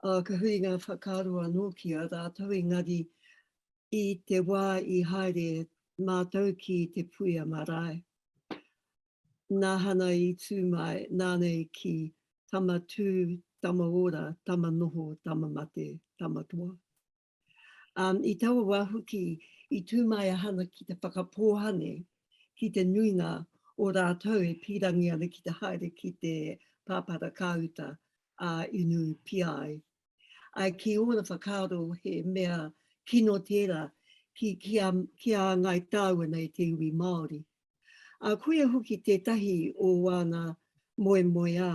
ā, ka huri ngā whakaaro anō ki a rātou, engari i te wā i haere mātou ki te puia marae, nāhana i tū mai, nānei ki tama tū, tama ora, tama noho, tama mate, tama toa. Um, I taua wā hoki, i tū mai a Hana ki te whakapōhane ki te nuinga o rātou e pīrangi ana ki te haere ki te pāpara kāuta a Inu Piai. Ai ki ora whakaaro he mea kino tērā ki, ki, a, ki a Ngai Tāua nei te iwi Māori. ā, koia hoki tētahi o āna moemoeā,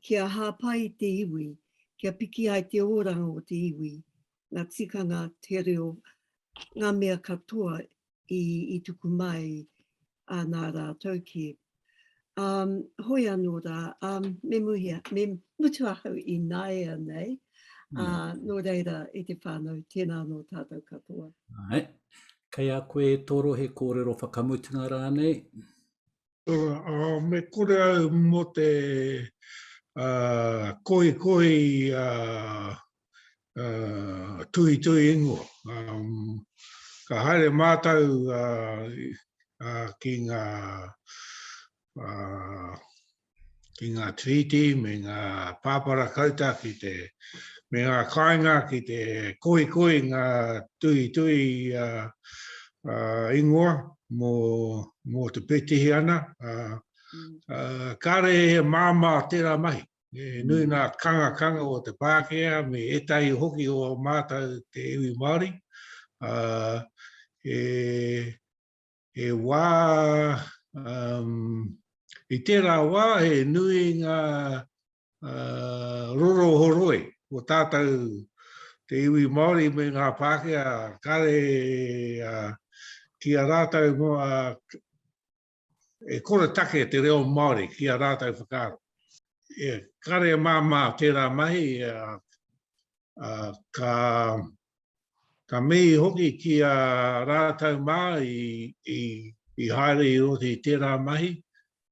kia hāpai te iwi, kia piki ai te oranga o te iwi, ngā tikanga, te reo, ngā mea katoa i tuku mai nā rātou ki. Um, hoi anō rā, um, me muhia, me mutu ahau i naea nei, mm. uh, nō reira e te whānau, tēnā anō tātou katoa. Ai, kei a koe e toro he kōrero whakamutunga rānei? Uh, me kore au mō te uh, koi koi uh, uh, tui tui ingoa. Um, ka haere mātou uh, uh, ki ngā uh, ki ngā treaty me ngā pāpara kauta ki te me ngā kāinga ki te koi koi ngā tui tui uh, uh, ingoa mō, mō te petihi ana. Uh, uh, kāre he māmā tērā mahi. He nui ngā kangakanga o te Pākehā me ētahi hoki o mātou te iwi Māori. He wā, i tērā wā he nui ngā rorohoroi o tātou te iwi Māori me ngā Pākehā, kāre ki a rātou E kore take te reo Māori ki a rātou whakaaro. E kare māmā tērā mahi, ka, ka mihi hoki ki a rātou mā i, i, i haere i roto i tērā mahi.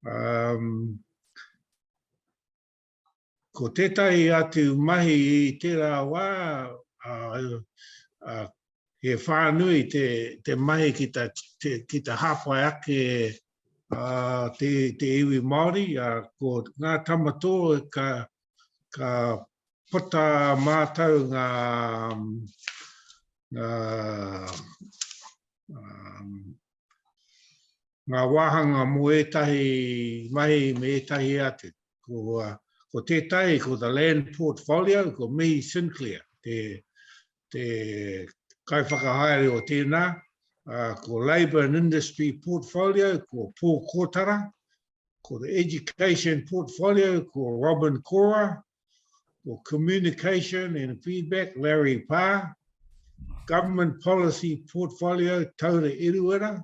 Um, Ko tētahi atu mahi i tērā wā, he whānui te mahi ki te hāpai ake te iwi Māori, ko ngā tama tō ka puta mātou ngā wāhanga mō ētahi mahi me ētahi atu. ko, uh, ko tētai, ko the land portfolio, ko Mihi Sinclair, te, te kaiwhakahaere o tēnā, uh, ko labour and industry portfolio, ko Pō Kōtara, ko the education portfolio, ko Robin Cora, ko communication and feedback, Larry Parr, government policy portfolio, Taura Eruera,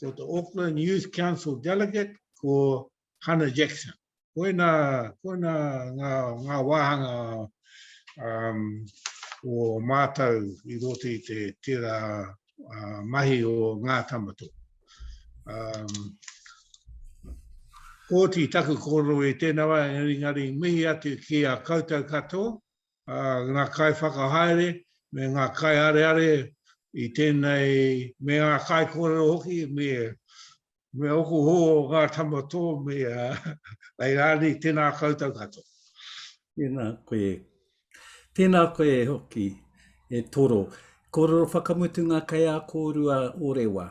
ko te Auckland Youth Council Delegate, ko Hannah Jackson. Koina, koina ngā, ngā wāhanga um, o mātou i roto i te tērā uh, mahi o ngā tamato. Um, Kōti taku kōrero i tēnā wā, engari ngari mihi atu ki a koutou katoa, ngā kaiwhakahaere me ngā kaiareare i tēnei, me ngā kaikōrero hoki, me me ōku hō ngā tama tō me ai rānei, tēnā koutou katoa. Tēnā koe. Tēnā koe hoki e Toro. Kōrero whakamutu ngā kaiā kōrua o Rewa.